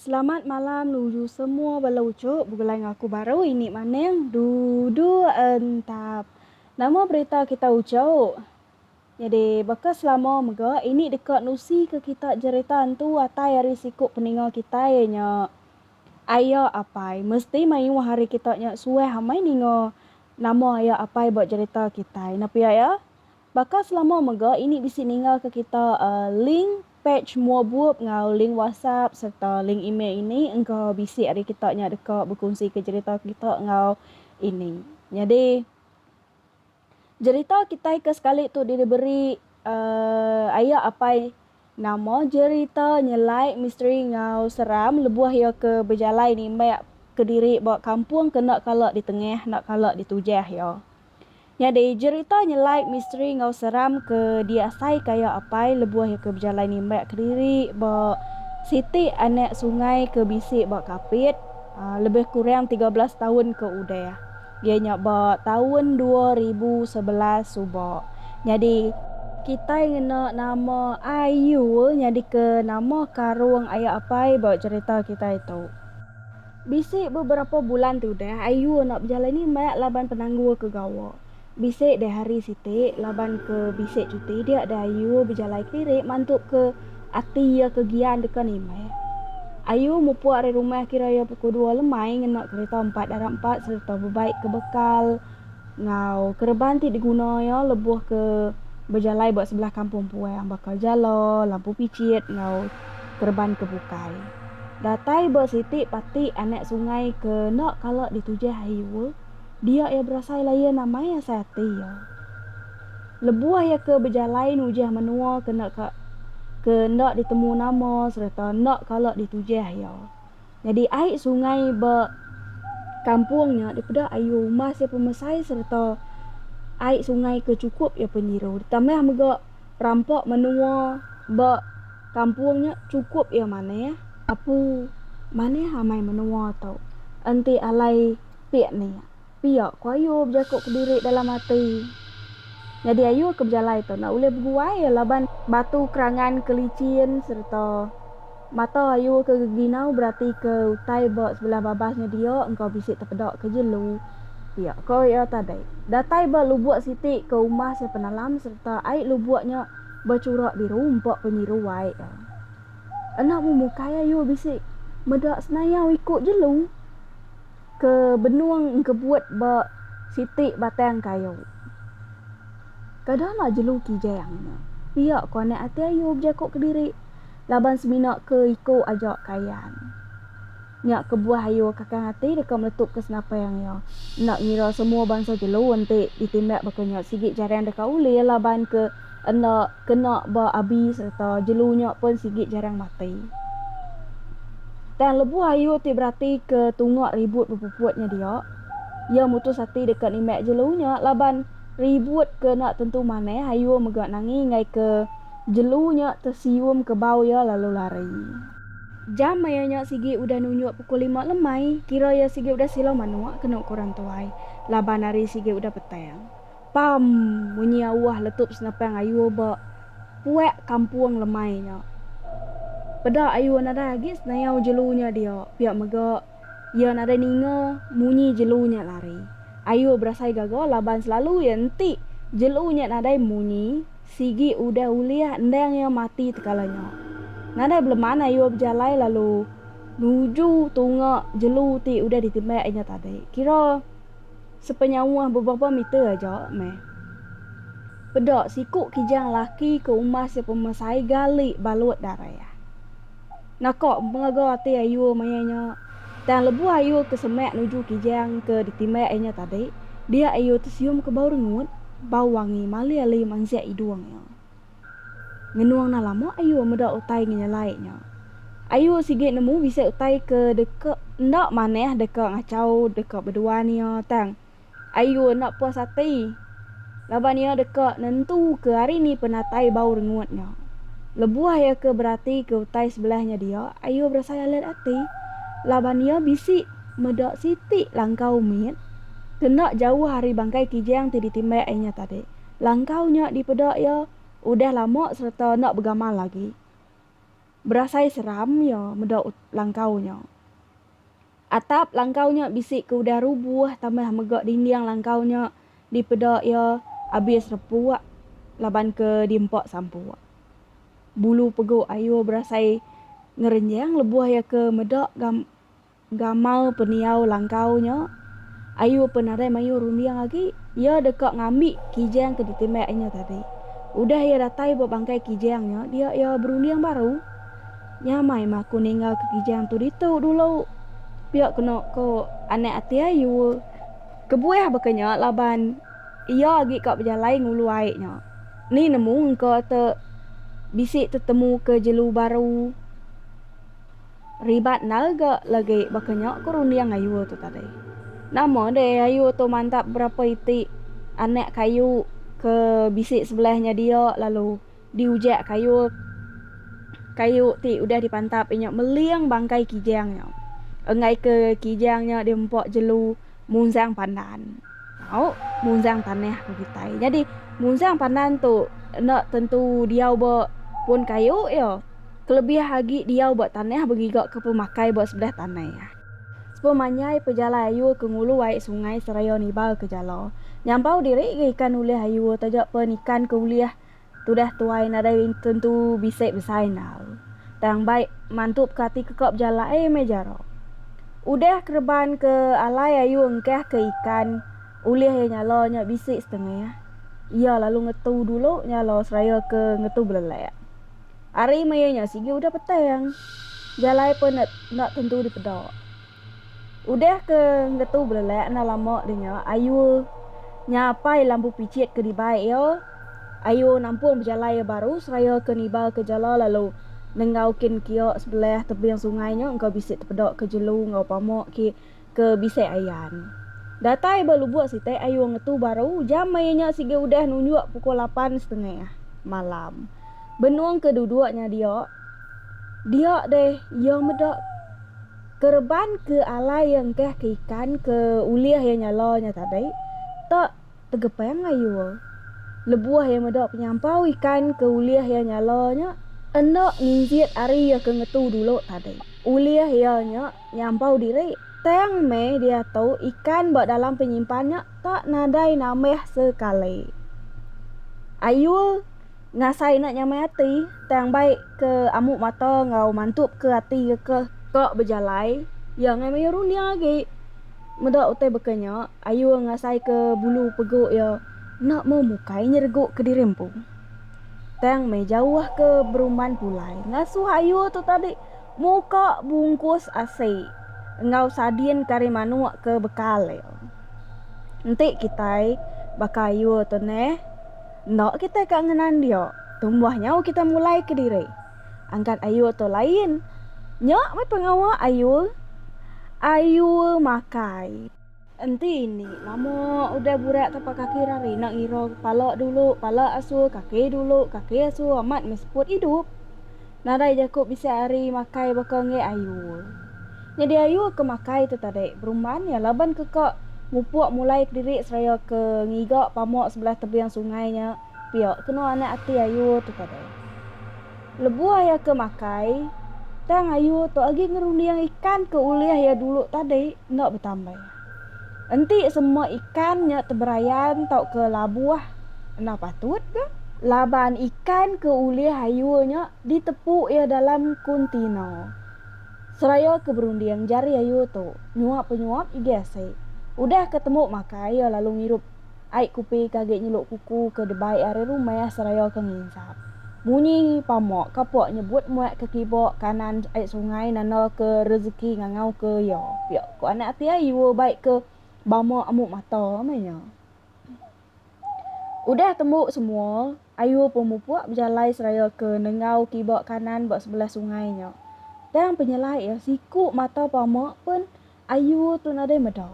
Selamat malam nuju semua bala uchup begulai enggau aku baru ini maning dudu entap. Nama berita kita uchup? Nyadi, baka selama mega, ini deka nusika kita jerita entu atai ari siku peninga kitai iya nya, Aya Apai. Mesti mayuh ari kita nya suah amai ninga nama Aya Apai ba jerita kitai. Nepia iya, baka selama mega, ini bisi ninggalka kita link pej mua bup enggau link WhatsApp sereta link email ini engka bisi ari kita nya deka bekunsika jerita kita enggau ini. Nyadi. Jerita kitai ke sekali tu diberi aya apai nama jerita nyelai misteri enggau seram lebuh iya ke bejalai nimbak kediri ba kampung ke enda kala ditengah enda kala ditujah iya. Nyadi jerita nyelai misteri enggau seram ke diasai ka iya apai lebuh iya ke bejalai nimbak kediri ba siti anak sungai ke bisi ba Kapit lebih kurang tiga belas taun ke udah. Iya nya ba taun dua ribu sebelas suba nyadi. Kitai ngena nama IU nyadika nama karung aya apai ba cherita kitai tu. Bisi beberapa bulan ti udah IU enda bejalai ni meh laban penanggul ke gawa. Bisi deh hari siti laban ke bisi cuti dia deh IU bejalai kediri mantu ke. Ati iya ke gian deka nimbai. Ayu mupuk ari rumah kira iya pukul dua lemai ngena kereta empat darab empat sereta bebai ke bekal enggau kereban ti diguna iya lebuh ke bejalai ba sebelah kampung puang baka jala, lampu pichit enggau kereban ke bukai. Datai ba siti pati anak sungai ke enda kala ditujah Ayu. Dia iya berasai layan amai asai ati iya. Lebuh iya ke bejalai nujah menua ke enda ka ke enda ditemu nama sereta enda kala ditujah iya. Nyadi ai sungai ba kampung nya dipeda ayu umas iya pemesai sereta ai sungai ke chukup iya penyiru ditambah mega perampak menua ba kampung nya chukup iya manah. Apu manah amai menua tu enti alai pik nia. Pia ku Ayu bejaku kediri dalam ati. Nyadi Ayu ke bejalai tu enda ulih beguai laban batu kerangan ke licin sereta mata Ayu ke geginau beratika utai ba sebelah babas nya dia engka bisi tepeda ke jelu. Pia ko iya tadi, datai ba lubuk siti ke umbah sia penalam sereta ai lubuk nya bechurak biru empa penyiru ai iya. Enda memukai Ayu bisi meda senayau iku jelu. ke benung engkebut ba siti batang kayu. Kada la jelu kijang nya, pia ko anak ati ayu bejako kediri laban semina ke iko aja kayan. Nya kebuah ayu kakang ati deka meletupka senapang iya, enda ngira semua bansa jelu enti ditimbak baka nya sigi jarang deka ulih laban ke. enda kena ba abi sereta jelu nya pun sigi jarang mati. Tang lebuh Ayu ti beratika tunga ribut bepuput nya dia, iya mutus ati deka nimbak jelu nya laban ribut ke enda tentu manah Ayu mega nangi enggai ke jelu nya tesium ke bau iya lalu lari. Jam maya nya sigi udah nunjuk pukul lima lemai, kira iya sigi udah sila manuk kena uku orang tuai laban hari sigi udah petang. Pam! munyi auah letup senapang Ayur ba puak kampung lemai nya. Peda Ayur nadai agi senayau jelu nya dia, pia mega iya nadai ninga munyi jelu nya lari. Ayur berasai gaga laban selalu iya enti jelu nya nadai munyi, sigi udah ulih endang iya mati tekala nya. Nadai beleman Ayur bejalai lalu nuju tunga jelu ti udah ditimbak inya tadi. Kira. sepenyauh beberapa meter aja meh. Peda siku kijang laki ke umas iya pemesai gali balut darah. Naka megaga ati ayuh maya nya, tang lebuh ayuh ke semak nuju kijang ke ditimbak iya nya tadi, dia ayuh tesium ke bau rengut, bau wangi malih ali mansik idung iya. Ngenung nah lama ayu meda utai ngenyelai nya. Ayu sigi nemu bisi utai ke deka enda manah deka ngachau deka beduan iya tang ayu enda puas ati laban iya deka nentuka ari ni penatai bau rengut nya. Lebuh iya ke beratika utai sebelah nya dia, ayu berasai alet ati laban iya bisi meda siti langkau mit ke enda jauh ari bangkai kijang ti ditimbak inya tadi. langkau nya dipeda iya udah lama sereta enda begamal agi. Berasai seram iya meda langkau nya. Atap langkau nya bisi ke udah rubuh tambah mega dinding langkau nya dipeda iya abis repuk laban ke diempa sampuk. Bulu pegu Ayu berasai ngerenjang lebuh iya ke meda gam. Gamal pendiau langkau nya, ayu pen nadai mayuh runding agi, iya deka ngambi Kijang ke ditimbak inya tadi. Udah iya datai ba bangkai Kijang nya, dia iya berunding baru. Nyamai mah aku ninggalka Kijang tu ditu dulu. Pia kena ko anak ati ayu. Kebuah baka nya laban iya agi ka bejalai ngulu ai nya. Ni nemu engka te bisi tetemuka jelu baru. Ribat endar ga lagi baka nya ku runding ayu tu tadi. Nama deh ayu tu mantap berapa iti anak kayu ke bisi sebelah nya dia lalu diujak kayu kayu ti udah dipantap inya meling bangkai kijang nya. Enggaika kijang nya diempa jelu munjang pandan. Tau munjang tanah ke kitai. Nyadi munjang pandan tu enda tentu diau ba pun kayu iya. Kelebih agi diau ba tanah begiga ke pemakai ba sebelah tanai. Sepemanjai pejalai ayur ke ngulu ai sungai seraya nibalka jala. Nyampau diri ga ikan ulih ayur taja pen ikan ke ulih. Tudah tuai nadai tentu bisi besai endau. Tang bai mantu pekati ke ka bejalai meh jaro. Udah kereban ke alai ayu engkah ke ikan ulih iya nyala nya bisi setengah. Iya lalu ngetu dulu nyala seraya ke ngetu belelak. Ari maya nya sigi udah petang. Jalai pun enda tentu dipeda. Udah ke ngetu belelak enda lama deh nya ayu nya apai lambu pichit ke dibai iya. Ayu nampung bejalai iya baru seraya ke niba ke jala lalu nenggau kin kia sebelah tebing sungai nya engka bisi tepeda ke jelu enggau pama ki ke bisi ayan. Datai ba lubuk siti ayu ngetu baru jam maya nya sigi udah nunjuk pukul lapan setengah malam. Benung ke duduk nya dia dia deh iya meda. Kereban ke alai iya engkah ke ikan ke ulih iya nyala nya tadi ta tegepang ayua. Lebuh iya meda penyampau ikan ke ulih iya nyala nya enda nginjit ari iya ke ngetu dulu tadi. Ulih iya nya nyampau diri tang meh diatu ikan ba dalam penyimpan nya ta nadai nambah sekali. Ayua. Ngasai enda nyamai ati, tang bai ke amuk mata enggau mantup ke ati reka. Ka bejalai, iya angai mayuh runding agi. Meda utai baka nya, Ayur ngasai ke bulu peguk iya enda meh mukai nyereguk kediri empu, tang meh jauh ke berumban pulai ngasuh Ayur tu tadi muka bungkus asi enggau sadin kari manuk ke bekal iya. Enti kitai baka Ayur tu neh. Enda kitai ka ngenan dia, tumbuh nyau kitai mulai kediri. Angkat Ayul tu lain. Nya meh pengawa Ayul. Ayul makai. Enti indi lama udah burak tapak kaki rari enda ngira pala dulu, pala asur, kaki dulu, kaki asur amat meh seput idup. Nadai jaku bisi ari makai baka enggai ayu. Nyadi ayu ke makai tu tadi berumban iya laban ke ka mupuk mulai kediri seraya ke ngiga pamuk sebelah tebing sungai nya pia kenu anak ati ayu tu tadi. Lebuh iya ke makai tang ayu tu agi ngerunding ikan ke ulih iya dulu tadi enda betambai. Enti semua ikan nya teberayan tauka labuh enda patut ke? Laban ikan ke ulih ayu nya ditepu iya dalam kuntina seraya ke berunding jari ayu tu nyuap-penyuap igi asai. Udah ke temu makai iya lalu ngirup. Ai Kupi ke agi nyeluk kuku ke debai ari rumah seraya ke nginsap. Munyi Pamok kapok nyebut muak ke kibok kanan ai sungai nanda ke rezeki ngangau ke iya. Pia ko anak ati ayu bai ke bama amuk mata meh nya. Udah tembu semua, ayu pun mupuk bejalai seraya ke nenggau kibok kanan ba sebelah sungai nya. Tang penyelai iya siku mata Pamok pun Ayu tu nadai meda.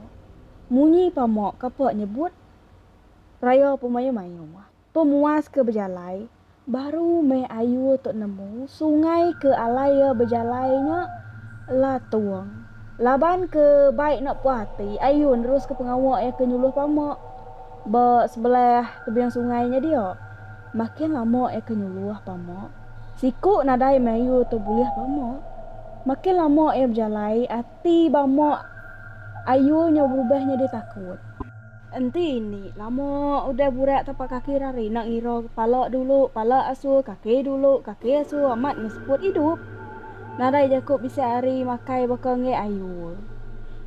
Munyi pama kapa nyebut raya pemayu-mayu. Pemuas ke bejalai, baru meh ayu tu nemu sungai ke alai iya bejalai nya latung. Laban ke bai enda puas ati, ayu neruska pengawa iya ke nyuluh pama ba sebelah tebing sungai nya dia. Makin lama iya ke nyuluh pama. Siku nadai mayuh tu bulih bama. Makin lama iya bejalai, ati bama ayu nya berubah nyadi takut. Enti indi lama udah burak tapak kaki ira ari enda ngira pala dulu, pala asur, kaki dulu, kaki asur amat ngeseput idup. Nadai jaku bisi ari makai baka enggai ayu.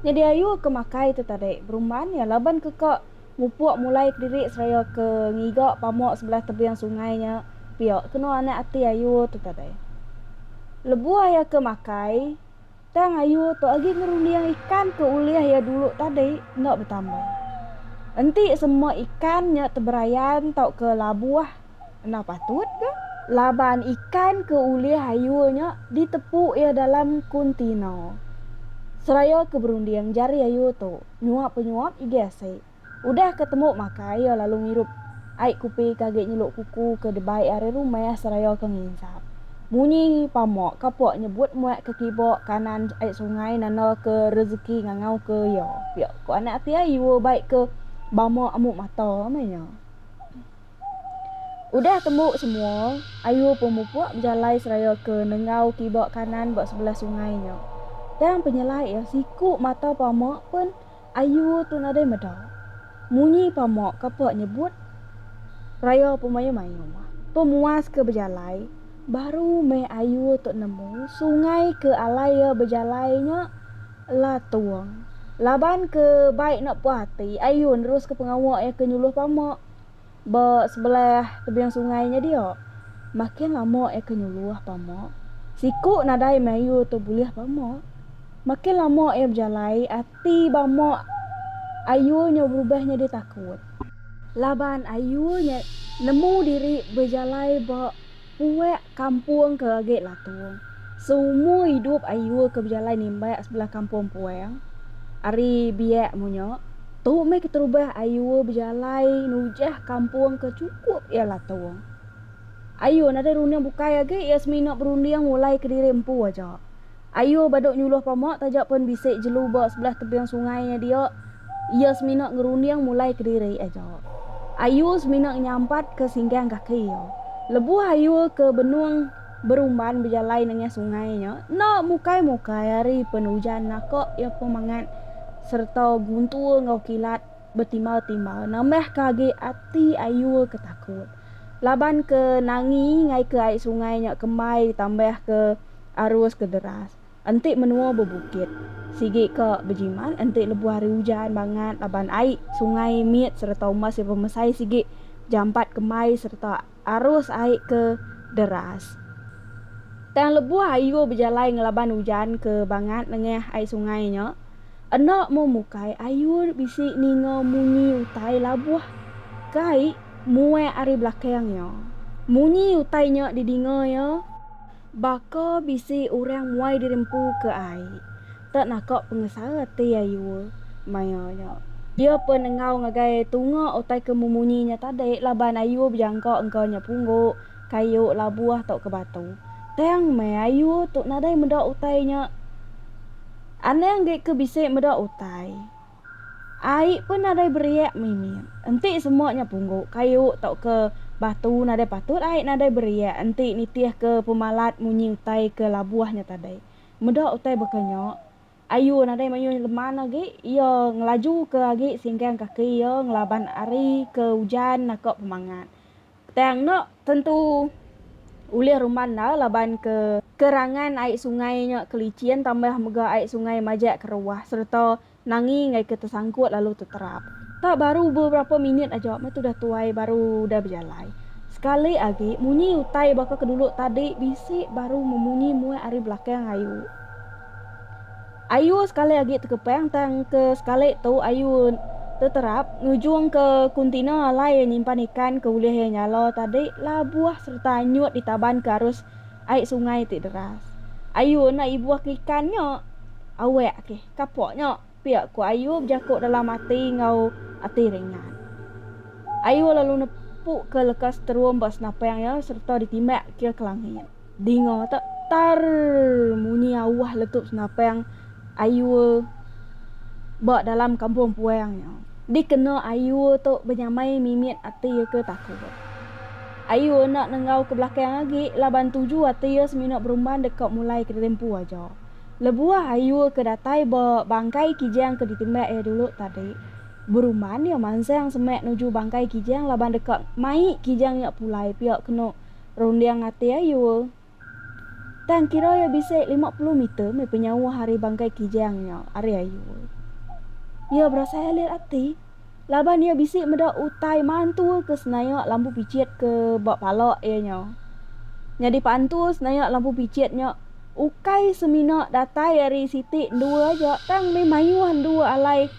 Nyadi ayu ke makai tu tadi berumban iya laban ke ka Mupuk mulai kediri seraya ke ngiga pamuk sebelah tebing sungai nya pia kena anak ati ayu tu tadai. Lebuh iya ke makai, tang ayu tu agi ngerunding ikan ke ulih iya dulu tadi enda betambah. Enti sema ikan nya teberayan tauka labuh enda patut ga? Laban ikan ke ulih ayu nya ditepu iya dalam kuntina seraya ke berunding jari ayu tu. nyuap pe nyuap igih asi. Udah ke temu makai iya lalu ngirup ai kupi ke agi nyeluk kuku ke debai ari rumah seraya ke nginsap munyi pamok kapok nyebut muak ke kibok kanan ai sungai nanda ke rezeki ngangau ke iya pia ko anak ati ai iwa bai ke bama amu mata meh iya. Udah tembu semua, ayu pemupuk bejalai seraya ke nenggau kiba kanan ba sebelah sungai nya. Tang penyelai iya siku mata pama pen ayu tu nadai meda. Munyi pama kapa nyebut raya pemayuh-mayuh. Pemuas ke bejalai, baru meh ayu tu nemu sungai ke alai iya bejalai nya Latung. Laban ke bai enda puas ati, ayu neruska pengawa iya ke nyuluh pama. ba sebelah tebing sungai nya dia. Makin lama iya ke nyuluh pama, siku nadai mayu tu bulih pama. Makin lama iya bejalai, ati bama ayu nya berubah nyadi takut. Laban ayu nya nemu diri bejalai ba. Puak kampung ke agi Latung, seumur idup ayu ke bejalai nimbak sebelah kampung Puang ari biak munyo, tu meh keterubah ayu bejalai nujah kampung ke chukup iya Latung. Ayu nadai runding bukai agi iya semina berunding mulai kediri empu aja. Ayu ba dok nyuluh pama taja pen bisi jelu ba sebelah tebing sungai nya dia, iya semina ngerunding mulai kediri aja. Ayu semina nyampat ke singgang kaki iya. Lebuh ayu ke benung berumban bejalai nengah sungai nya, enda mukai-mukai ari pen ujan naka iya pemangat serta guntur enggau kilat betimbal-timbal nambah ka agi ati ayu ke takut. Laban ke nangi ngaika ai sungai nya kembai ditambah ke. arus ke deras, enti menua bebukit, sigi ke bejimat enti lebuh hari ujan bangat laban ai sungai mit sereta umbas iya bemesai sigi jampat kembai sereta arus ai ke deras. Tang lebuh ayu bejalai ngelaban ujan ke bangat nengah ai sungai nya, enda meh mukai ayu bisi ninga munyi utai labuh ke ai muek ari belakang iya. Munyi utai nya didinga iya Baka bisi orang muai diri empu ke ai. Tak naka pengesara ati ayua maya nya. Iya pun enggau ngagai tunga utai ke memunyi nya tadi laban ayua bejangka engka nya punggu, kayu, labuh tauka batu. Tang meh ayua tu nadai meda utai nya. Anang deka bisi meda utai. Ai pun nadai beriak mimit. Enti semua nya punggu, kayu tauka batu nadai patut ai nadai beriak enti nitihka pemalat munyi utai ke labuh nya tadai. Meda utai baka nya, Ayu nadai mayuh leman agi. Iya ngelajuka agi singgang kaki iya ngelaban ari ke ujan naka pemangat. Tang nya tentu ulih rumah enda laban ke kerangan ai sungai nya ke licin tambah mega ai sungai majak keruah sereta nangi enggai ke tesangkut lalu teterap. Tang baru beberapa minit aja meh tudah tuai baru udah bejalai. Sekali agi munyi utai baka ke dulu tadi bisi baru memunyi muai ari belakang ayu. Ayu sekali agi tekepang tang ke sekali tu ayu teterap ngujung ke kontena alai iya nyimpan ikan ke ulih iya nyala tadi labuh sereta anyut ditaban ke arus ai sungai ti deras. Ayu enda ibuh ke ikan nya. Awak ke kapak nya. pia ku Ayub jaku dalam ati enggau ati ringat. Ayub lalu nepuka leka seterum ba senapang iya sereta ditimbak ke ke langit. Dinga tu, tarrrrr munyi auh letup senapang Ayub ba dalam kampung puang iya. Dikena Ayub tu benyamai mimit ati iya ke takut. Ayub enda nenggau ke belakang agi laban tuju ati iya semina berumban deka mulaika ditempu aja. Lebuh ayu ke datai ba bangkai Kijang ke ditembak iya dulu tadi, beruman iya mansang semak nuju bangkai Kijang laban deka mai Kijang nya pulai pia kena runding ati ayu. Tang kira iya bisi lima puluh meter meh penyauh ari bangkai Kijang nya ari ayu. Iya berasai alit ati. laban iya bisi meda utai mantul ke senayak lampu pichit ke ba pala iya nya. Nyadi pantul senayak lampu pichit nya ukai semina datai ari siti endua aja tang meh mayuh endua alai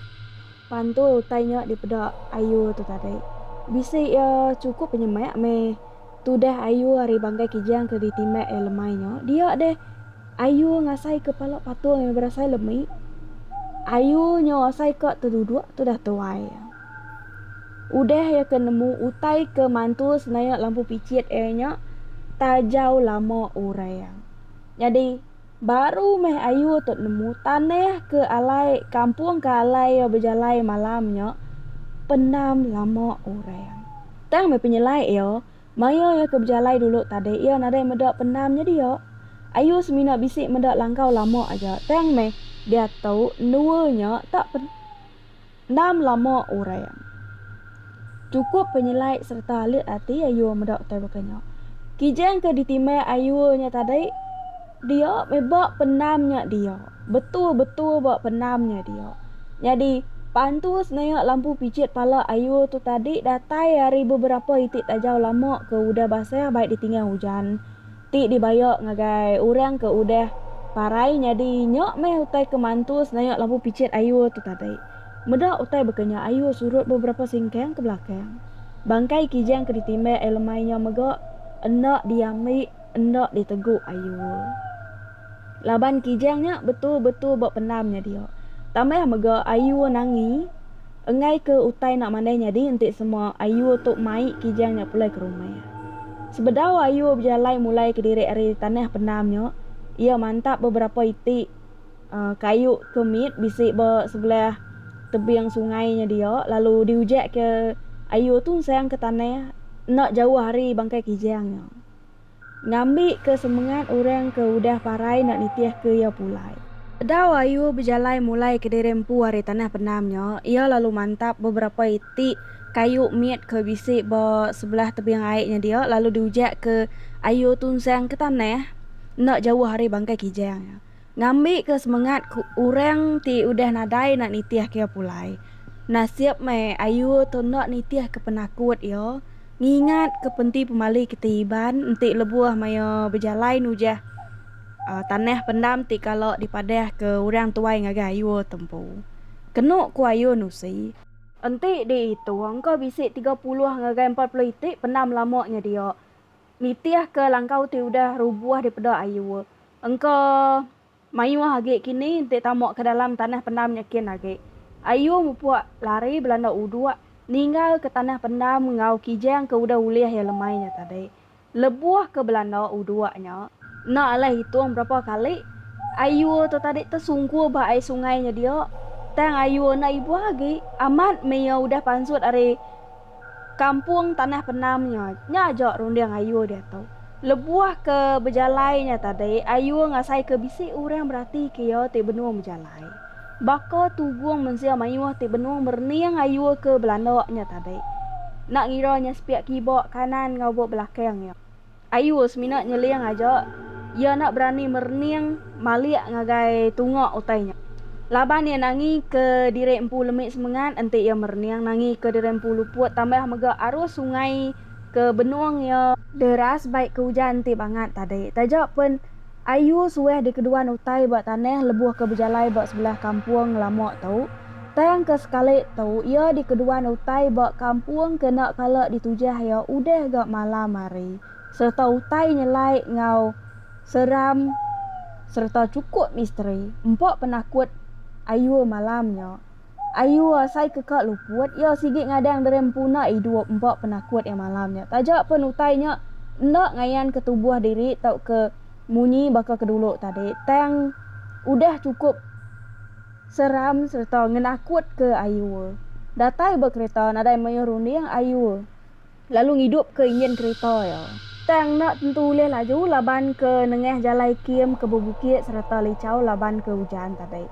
pantul utai nya dipeda ayu tu tadi. Bisi iya chukup penyemak meh tudah ayu ari bangkai Kijang ke ditimbak iya lemai nya dia deh. Ayu ngasai ke pala patung yang berasai lemi. Ayu nyau asai ka teduduk tudah tuai iya. Udah iya ke nemu utai ke mantul senayak lampu pichit iya nya tajau lama urai iya. Nyadi, baru meh ayu tu nemu tanah ke alai kampung ke alai iya bejalai malam nya pendam lama urai iya. Tang meh penyelai iya. Maya iya ke bejalai dulu tadi iya nadai meda pendam nyedia. Ayu semina bisi meda langkau lama aja tang meh diatu endua nya tak pendam lama orang. Chukup penyelai sereta alit ati Ayu meda utai baka nya. Kijang ke ditimbang Ayu nya tadi. Dia meh ba penam nya dia. Betul betul ba penam nya dia. Nyadi pantus nayak lampu picit pala ayul tu tadi datai ari beberapa iti tajau lama ke udah basah bai ditingau ujan ti dibaya ngagai orang ke udah parai nyadi nya meh utai ke mantus nayak lampu picit ayul tu tadi. Meda utai baka nya ayul surut beberapa singkang ke belakang. Bangkai kijang ke ditimbak ai lemai nya mega enda diambi. Enda diteguk ayu. Laban Kijang nya betul-betul ba pendam nya dia. Tambah mega ayu Nangi enggai ke utai enda mandai nyadi enti semua ayu tu mai Kijang nya pulai ke rumah. Sebedau ayu bejalai mulai kediri ari tanah pendam nya, iya mantap beberapa iti uhh kayu ke mit bisi ba sebelah tebing sungai nya dia lalu diujak ke ayu tu ensang ke tanah enda jauh ari bangkai Kijang nya. ngambika semengat orang ke udah parai enda nitihka iya pulai. Bedau Ayu bejalai mulai kediri empu ari tanah pendam nya, iya lalu mantap beberapa iti kayu mit ke bisi ba sebelah tebing ai nya dia lalu diujakka Ayu tunsang ke tanah enda jauh ari Bangkai Kijang nya. ngambika semengat ke orang ti udah nadai enda nitihka iya pulai. Nasib meh ayu tu enda nitihka penakut iya ngingatka penti pemali kitai Iban enti lebuh maya bejalai nujah tanah pendam ti kala dipadahka orang tuai ngagai ayu tu empu. Kenu ku ayu Nusi. Enti diitung ko bisi tiga puluh ngagai empat puluh iti pendam lama nyedia nitihka langkau ti udah rubuh dipeda ayu. Engka mayuh agi kini enti tama ke dalam tanah pendam nyekin agi. Ayu mupuk lari belanda uduk ninggal ke tanah pendam enggau kijang ke udah ulih iya lemai nya tadi. Lebuh ke belanda uduk nya, enda alai hitung berapa kali ayu tu tadi tesungkur ba ai sungai nya dia tang ayu enda ibuh agi amat meh iya udah pansut ari. kampung tanah penam nya, nya aja runding Ayul diatu. Lebuh ke bejalai nya tadi, Ayul ngasaika bisi orang beratika iya ti benung bejalai. Baka tugung mensia mayuh ti benung merening Ayul ke belanda nya tadi. Enda ngira nya sepiak kiba kanan ngaubuk belakang iya. Ayu semina nyeling aja iya enda berani merening malik ngagai tunga utai nya. Laban iya nangi ke diri empu lemi semengat enti iya merening nangi ke diri empu luput tambah mega arus sungai ke benung iya. Deras bai ke ujan enti bangat tadi. Taja pen. Ayu suah dikeduan utai ba tanah lebuh ke bejalai ba sebelah kampung ngelama tu, tang ke sekali tu iya dikeduan utai ba kampung kena kala ditujah iya udah ga malam hari sereta utai nyelai enggau seram sereta chukup misteri empa penakut Ayu malam nya. Ayu asai ke ka luput, iya sigi ngadang deri empuna idup empa penakut iya malam nya. Taja pen utai nya enda ngayanka tubuh diri tauka munyi baka ke dulu tadi, tang udah chukup seram sereta ngenakutka Ayu. Datai ba kereta nadai mayuh runding Ayu. lalu ngidupka injin kerita iya. Tang enda tentu ulih laju laban ke nengah jalai kim ke bebukit sereta lichau laban ke ujan tadi.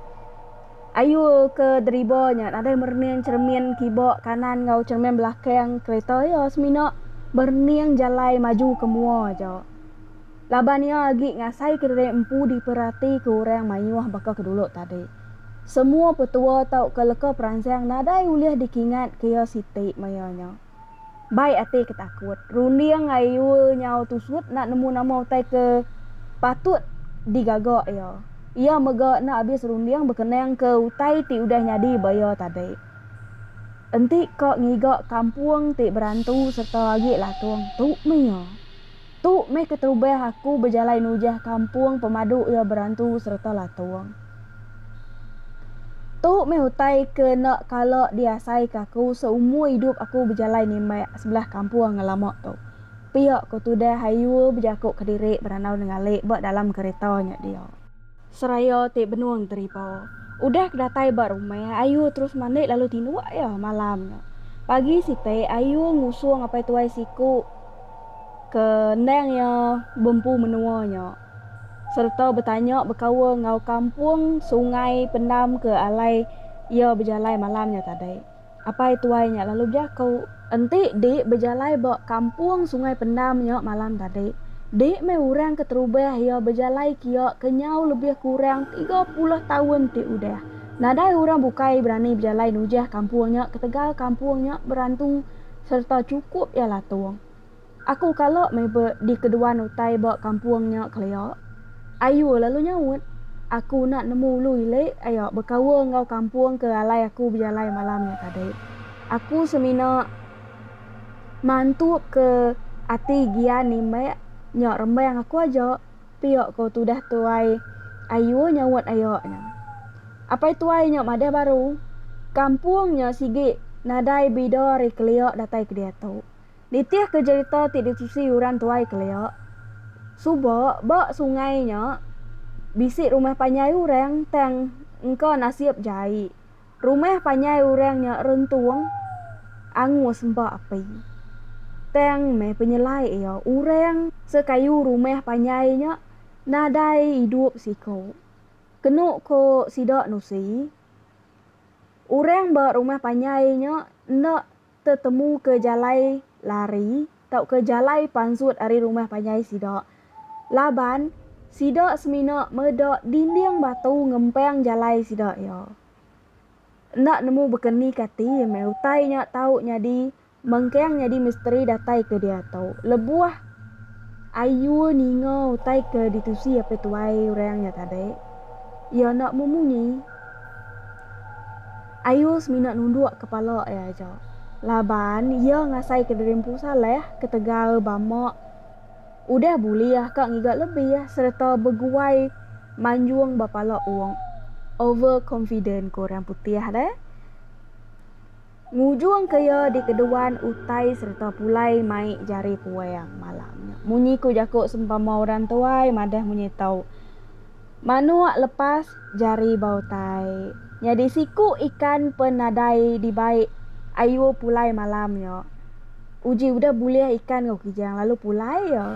Ayu ke deriba nya nadai merening cheremin kiba kanan enggau cheremin belakang kerita iya semina merening jalai maju ke mua aja. Laban iya agi ngasaika diri empu diperatika orang mayuh baka ke dulu tadi. Semua petua tauka leka peransang nadai ulih dikingatka iya siti maya nya. Bai ati ke takut, runding Ayul nyau tusut enda nemu nama utai ke patut digaga iya. Iya mega enda abis runding bekenangka utai ti udah nyadi ba iya tadi. Enti ka ngiga kampung ti berantu sereta agi latung, tu meh iya. Tu meh keterubah aku bejalai nujah kampung pemadu iya berantu sereta latung. Tu meh utai ke enda kala diasaika aku seumur idup aku bejalai nimbak sebelah kampung ngelama tu, pia ku tudah Hayur bejaku kediri berandau nenggali ba dalam kereta nya dia. Seraya ti benung teriba. Udah ke datai ba rumah, Ayu terus mandi lalu tinduk iya malam nya. Pagi siti, Ayu ngusung apai tuai siku ke endang iya bempu menua nya sereta betanya bekaul enggau kampung sungai pendam ke alai iya bejalai malam nya tadi. Apai tuai nya lalu bejaku. Enti di bejalai ba kampung Sungai Pendam nya malam tadi, di meh orang keterubah iya bejalai kia kenyau lebih kurang tiga puluh taun ti udah. Nadai orang bukai berani bejalai nujah kampung nya ketegal kampung nya berantu sereta chukup iya latung. Aku kala meh be dikeduan utai ba kampung nya kelia. Ayu lalu nyaut. Aku unak nemu ulu ili aya bekaul enggau kampung ke alai aku bejalai malam nya tadi. Aku semina mantup ke ati gian nimbek nya rembang aku aja, pia ko tudah tuai Ayu nyaut aya nya. Apai tuai nya madah baru, kampung nya sigi nadai bida ari kelia datai ke diatu. Nitihka jerita ti ditusi Yuran Tuai kelia, suba ba sungai nya bisi rumah panjai orang tang engka nasib jai rumah panjai orang nya rentung angus ba api. Tang meh penyelai iya, orang sekayu rumah panjai nya nadai idup siku. Kenu ko sida nusi, orang ba rumah panjai nya enda. tetemuka jalai lari tauka jalai pansut ari rumah panjai sida laban sida semina meda dinding batu ngempang jalai sida iya. Enda nemu bekeni kati meh utai nya tau nyadi mengkang nyadi misteri datai ke diatu lebuh ayu ninga utai ke ditusi apai tuai orang nya tadi iya enda memunyi. Ayu semina nunduk kepala iya aja laban iya ngasaika diri Empu Saleh ketegal bama udah bulih ka ngiga lebih sereta beguai manjung ba pala ong over confident ku orang putih deh. Ngujungka iya dikeduan utai sereta pulai mai jari puang malam nya. Munyi ku jaku sempama orang tuai madah munyi tau. Manuk lepas jari ba utai. Nyadi siku ikan pen nadai dibai ayu pulai malam nya. Uji udah bulih ikan enggau kijang lalu pulai iya.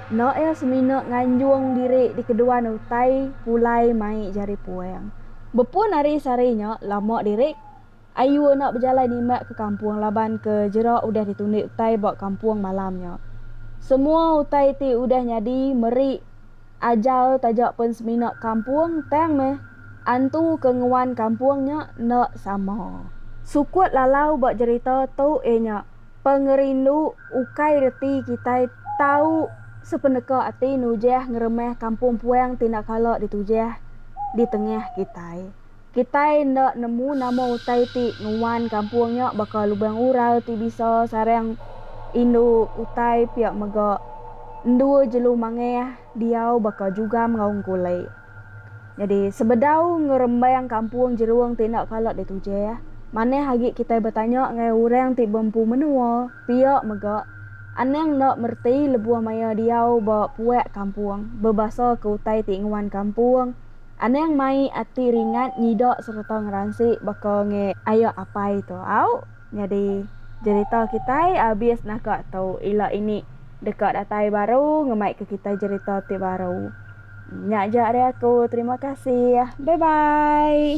Enda iya semina nganjung diri di keduan utai pulai mai jari puang. Bepun ari sehari nya lama diri. Ayu enda bejalai nimbak ke kampung laban ke jerak udah ditundi utai ba kampung malam nya. Semua utai ti udah nyadi meri ajal taja pen semina kampung tang meh antu ke nguan kampung nya enda sama. Sukut lalau ba jerita tu iya nya pengerindu ukai reti kitai tau sepeneka ati nujah ngeremeh kampung puang ti enda kala ditujah di tengah kitai. Kitai enda nemu nama utai ti nuan kampung nya baka lubang ural ti bisa sarang indu utai pia mega endur jelu mangah diau baka jugam enggau engkuli. Nyadi sebedau ngerembang kampung jerung ti enda kala ditujih, manah agi kitai betanya enggau orang ti beempu menua pia mega anang enda mereti lebuh maya diau ba puak kampung bebasa ke utai ti nuan kampung Anang mai ati ringat nyida sereta ngeransi baka nge aya apai tu au nyadi jerita kitai abis naka tu ila ini deka datai baru ngemai ke kitai jerita ti baru nya ja ari aku terima kasih bye bye.